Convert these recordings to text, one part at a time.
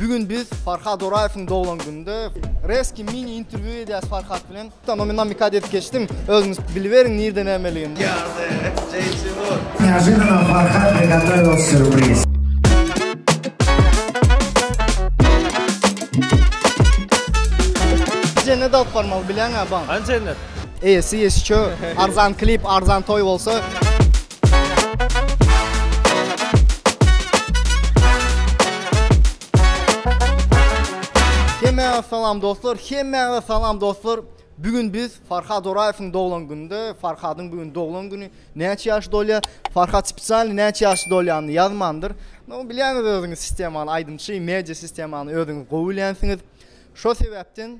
Bu gün biz Farhad Oraýewiň doglan gününde Reski mini interwýu edýäs Farhad bilen. Tamam men namikad edip geçdim. Özüňiz biliberiň nirde nämeligini. Ýagdy, JC Wood. Neojedanam Farhad Begallaýew sýurpriz. Jennet alyp barmaly bileňä baň. Hany jennet? Eýesi eşitjo. Arzan klip, arzan toý bolsa. Hemmäňize salam dostlar, hemmäňize salam dostlar. Bu gün biz Farhad Oraýewiň doglan gününde, Farhadyň bu gün doglan güni. Näçe ýaş dolýar? Farhad spesialny näçe ýaş dolýanyny ýazmandyr. No, bilýäňiz özüňiz sistemany, aýdymçy, media sistemany özüňiz gowy bilýänsiňiz. Şo sebäpden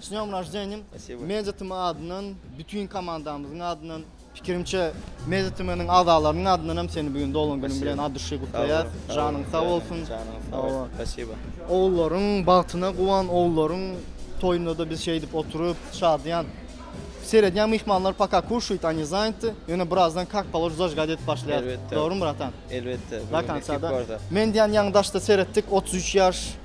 S dňom raždeniýa Meditm adyndan bütin komandamyzyň adyndan pikirimçe Meditmniň agzalarynyň adyndan hem seni bu gün doglan günüň bilen at duşy gutlaýas janyň sag bolsun Spasiba ogullaryň bagtyna guwan ogullaryň toýunda-da biz şeýdip oturyp şadyýan seredýän myhmanlar paka kuşuýt ani zaýnty ýöne birazdan kak polož zažgat edip başlaýar dogrymy bratan elbetde do konca da men diýän ýaňy daşda seretdik otuz üç ýaş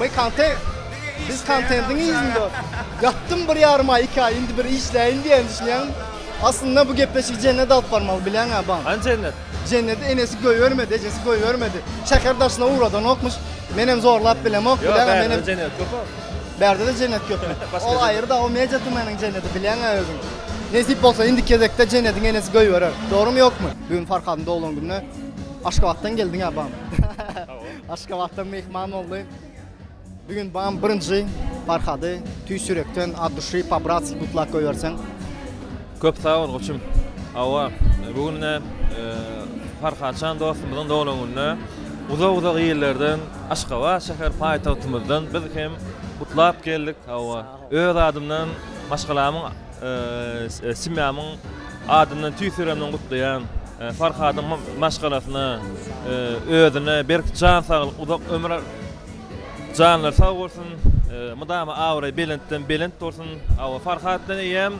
My content. Biz kontentiň yzynda. Ýatdym bir ýarym aý, iki aý, indi bir işläýin diýýän düşünýän. Aslynda bu gepleşigi jennete alyp barmaly bileňä baň. Hany jennet? Jenneti enesi goýbermedi, ejesi goýbermedi. Şäher daşyna ugradanokmyş. Menem zorlap bilemok, bileňä menem. Ýok, bärde-de jennet köp-ä. Bärde-de jennet köpmi? Ol aýry dag, o media tümeniň jenneti bileňä özüň. Nesip bolsa indiki gezekde jennetiň enesi goýberer. Dogrymy ýokmy? Bugün Farhadyň doglan gününe Aşgabatdan geldiňä baň. Aşgabatdan myhman boldy. Bu gün bam birinji Farhady tüýs ýürekden ad duşy pa bratski gutlak goýberseň. Köp sag bol goçum. Hawa, bu gün e, Farhatjan dostumyzyň doglan gününe uzak-uzak ýerlerden Aşgabat şäher paýtagtymyzdan biz hem gutlap geldik. Hawa. Öz adymdan, maşgalamyň, semýamyň adyndan tüýs ýüregimden gutlaýan. Farhadyň maşgalasyna, özüne berk jan saglyk, uzak ömür, janlary sag bolsun, mydama abraýy belentden belent bolsun. Hawa, Farhat bilen eýýäm.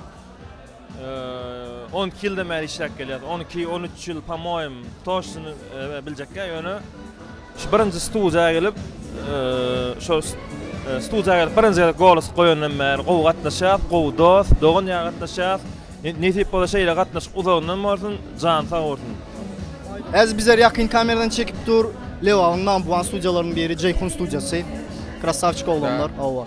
On iki ýyldan bäri işläp gelýäs. On iki, on üç ýyl, pomoýim, toştunu biljekkä, ýöne şu birinji studiýa gelip, şu studiýa gelip birinji gezek golos goýandan bäri gowy gatnaşýas, gowy dost, dogan ýaly gatnaşýas. Nesip bolsa şeýle gatnaşyk uzagyndan bolsun, jany sag bolsun. Häzir bizler ýakyn kameradan çekip dur. Lebabyň number one studiýalarynyň biri Jeýhun studiýasy. Krasawçik oglanlar, hawa.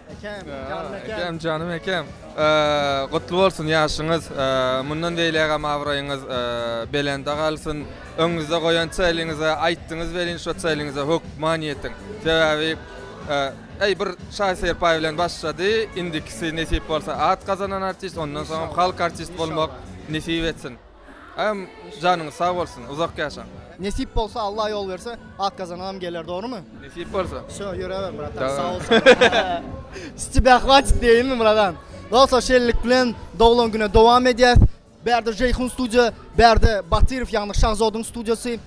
Ekem, janym ekem. Ekem, janym ekem. Gutly bolsun ýaşyňyz. Mundan beýlägem abraýyňyz belende galsyn. Öňüňizde goýan çäliňize, aýtdyňyz welin şo çäliňize hökman ýetiň. Sebäbi Eý bir Şaýy Serpaý bilen başlady, indikisi nesip bolsa at gazanan artist, ondan soňam halk artist bolmak nesip etsin. Agam janyňyz sag bolsun uzak ýaşaň. Nesip bolsa Allah ýol berse atgazanagam geler dogrymy. Nesip bolsa. Wsyo ýöräber bratan sag bol sag bol. S tebä hwatit diýeýinmi bratan. Dostlar şeýlelik bilen doglan güne dowam edýäs. Bärde Jeýhun studiýa bärde Batyrow ýagny Şahzodyň studiýasy.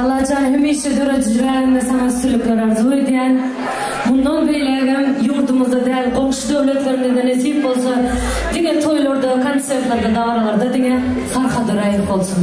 Allajan hemişe döredici bärinde saňa üstünlikler arzuw edýän. Mundan beýlägem ýurdumyzda däl goňşy döwletlerimizde nesip bolsa diňe toýlarda konsertlerde dabaralarda diňe Farhada raýat bolsun.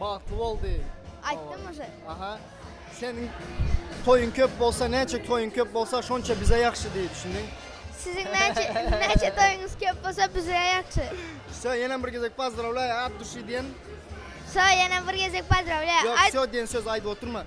Bagtly bol diý. Aýtdym uje. Aha. Seniň toýuň köp bolsa, näçe toýuň köp bolsa, şonça bize ýagşy diý, düşündiň? Siziň näçe näçe toýuňyz köp bolsa, bize ýagşy. Söý, ýenem bir gezek pozdrawlaýa, at duşy diýen. Söý, ýenem bir gezek pozdrawlaýa. Ýok, söý diýen sözi aýdyp oturma.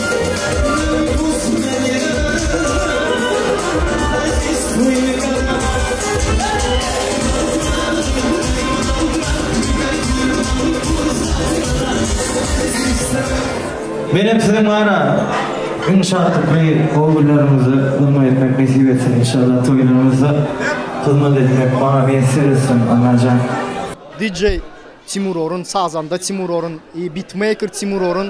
Menem siziň mana iň şatlykly gowy günleriňizde gurma etmek nesip etsin inşallah toýlaryňyzda hyzmat etmek maňa miýesser etsin Annajan. DJ Timur Orun Sazanda Timur Orun Beatmaker Timur Orun.